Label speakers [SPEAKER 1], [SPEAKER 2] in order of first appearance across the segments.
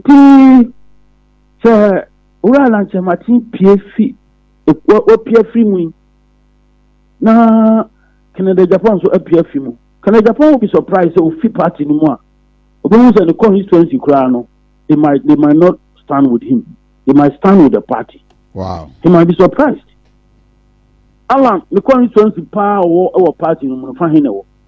[SPEAKER 1] Pii sɛ wura a na nkyɛ mate pie fi wapie afiri mu yi na Kennedy Japan nso apue afi mu Kennedy Japan will be surprised sɛ ofi party no mu a obɛhu sɛ ne constituency koraa no they might they might not stand with him they might stand with the party wow he might be
[SPEAKER 2] surprised
[SPEAKER 1] Alan ne constituency paa ɔwɔ ɛwɔ party no mu no fa he na ɛwɔ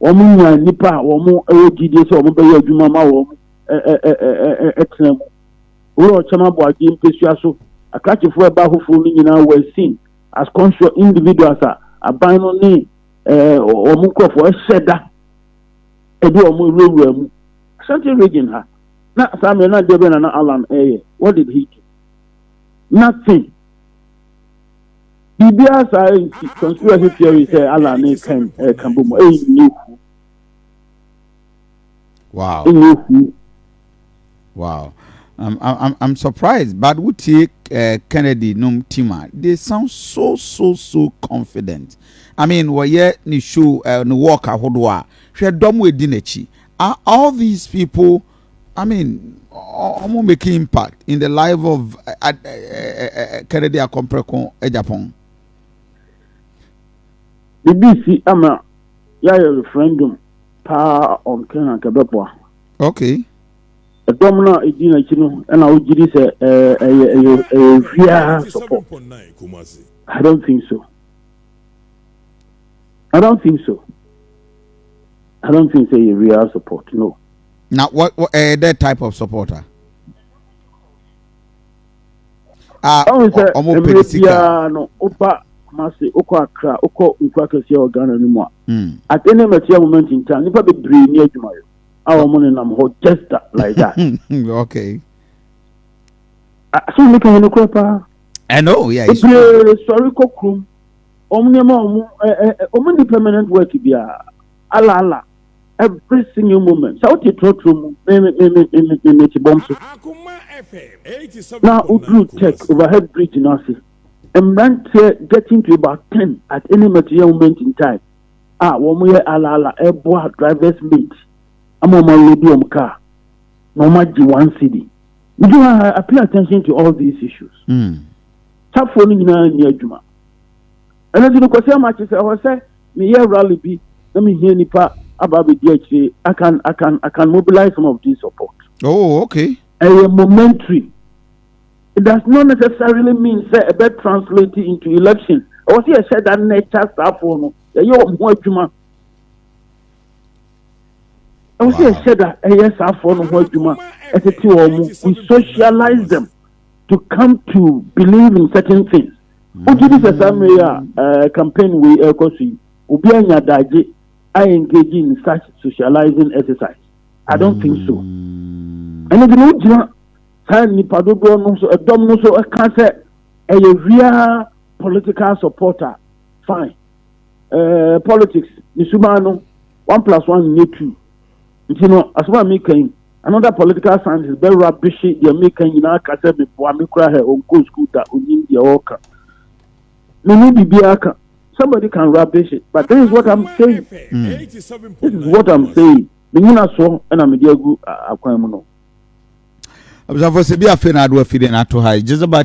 [SPEAKER 1] wɔnya nnipa a wɔwɔ gyidie sɛ wɔbɛyɛ adwuma ma wɔn tena mu. Wowura ɔkyɛm aboagye mpesua so akrakyefoɔ ɛba ahofoɔ no nyinaa were seen as conscious individuals a aban no ne wɔn nkurɔfoɔ ɛhyɛ da ɛde wɔn wurawura mu. Ashanti region ha na saa mmerɛ no adeɛ bɛn na na Allan ɛyɛ? What did he do? Nothing. biribiara saa nti conspiracy
[SPEAKER 2] theory sɛ Allah ne kan ɛka bɔ mu ɛyi ne fu wow ne fu wow I'm, I'm, I'm surprised, but we take uh, Kennedy num tima. They sound so so so confident. I mean, we ye ni show uh, ni walk ahodoa. Hwe dom we dinechi. Are all these people I mean, I'm making impact in the life of uh, uh, uh, Kennedy Akompreko Ejapon.
[SPEAKER 1] BBC ama yɛayɛ referendum paa on Kenya kɛbɛboa.
[SPEAKER 2] Okay. Ɛdɔm
[SPEAKER 1] no a ɛdi n'akyi no ɛna wogye di sɛ ɛyɛ ɛyɛ ɛyɛ hwiaa support. I don't think so. I don't think so. I don't think so. Ɛyɛ hwiaa support no. na wɔ wɔ
[SPEAKER 2] ɛyɛ dɛ type of support a.
[SPEAKER 1] a ɔhu sɛ ɔmo pɛ mmerɛ ne sika biara no woba kumase wokɔ akra wokɔ nkura kɛseɛ wɔ ghana no mu a Mm. at any material moment in time nnipa bebree ni adwumayɛ a wɔn nenam hɔ just that, like that okay asɛm meka yɛ nokorɛ paa i know yeah
[SPEAKER 2] it's true bebree sɔre kɔ
[SPEAKER 1] kurom wɔn nneɛma a wɔn ɛ ɛ ɛ, wɔn ni permanent work biara ala ala every single moment sɛ wote trɔtrɔ mu mete bɔm so na woduru tech overhead bridge no ase mmeranteɛ getting to about ten at any material moment in time a wɔyɛ alaala ɛboa drivers mate ama wɔn awuredi wɔn kaa na wɔn agye one city would you have I pay attention to all these issues mm. safoɔ no nyinaa nyɛ adwuma Ɛno nti no, Kwasi Amakye sɛ ɛwɔ sɛ meyɛ rally bi na mehia nnipa aba abɛdi akyire. I can, I can, I can mobilize some of this support. Oh, okay.
[SPEAKER 2] Ɛyɛ momentary.
[SPEAKER 1] It does not necessarily mean sɛ ɛbɛ translate into election. Ɛwɔ sɛ yɛhyɛ da na ɛkyɛ asraafoɔ no, yɛyɛ wɔn ho adwuma. Ɛwɔ sɛ yɛhyɛ da ɛyɛ asraafoɔ no ho adwuma, ɛtete wɔn mu. We socialize them to come to believe in certain things. Wogye di sɛ saa mmerɛ yi a campaign wei ɛrekɔ so yi, obi anya daagye a engage in such socializing exercise? I don't think so. Hmm. Ɛno de na wogyina saa nnipa dodoɔ no so, ɛdɔm no so ɛka sɛ ɛyɛ real political supporter. Fine. Uh, politics, ne suban no, one plus one nyɛ two. nti no asɛm a meka yi another political scientist bɛ rubbish deɛ meka nyinaa ka sɛ meboa me kora hɛ ɔnkɔ school da ɔnim deɛ ɔreka me ne biribiara ka somebody can rubbish it but this is what i'm saying mm. this is what i'm saying menyina soɔ ɛna mede agu akwan mu no
[SPEAKER 2] abusuafo
[SPEAKER 1] sɛ bi
[SPEAKER 2] afei na ado afide no ato ha
[SPEAKER 1] gyezeba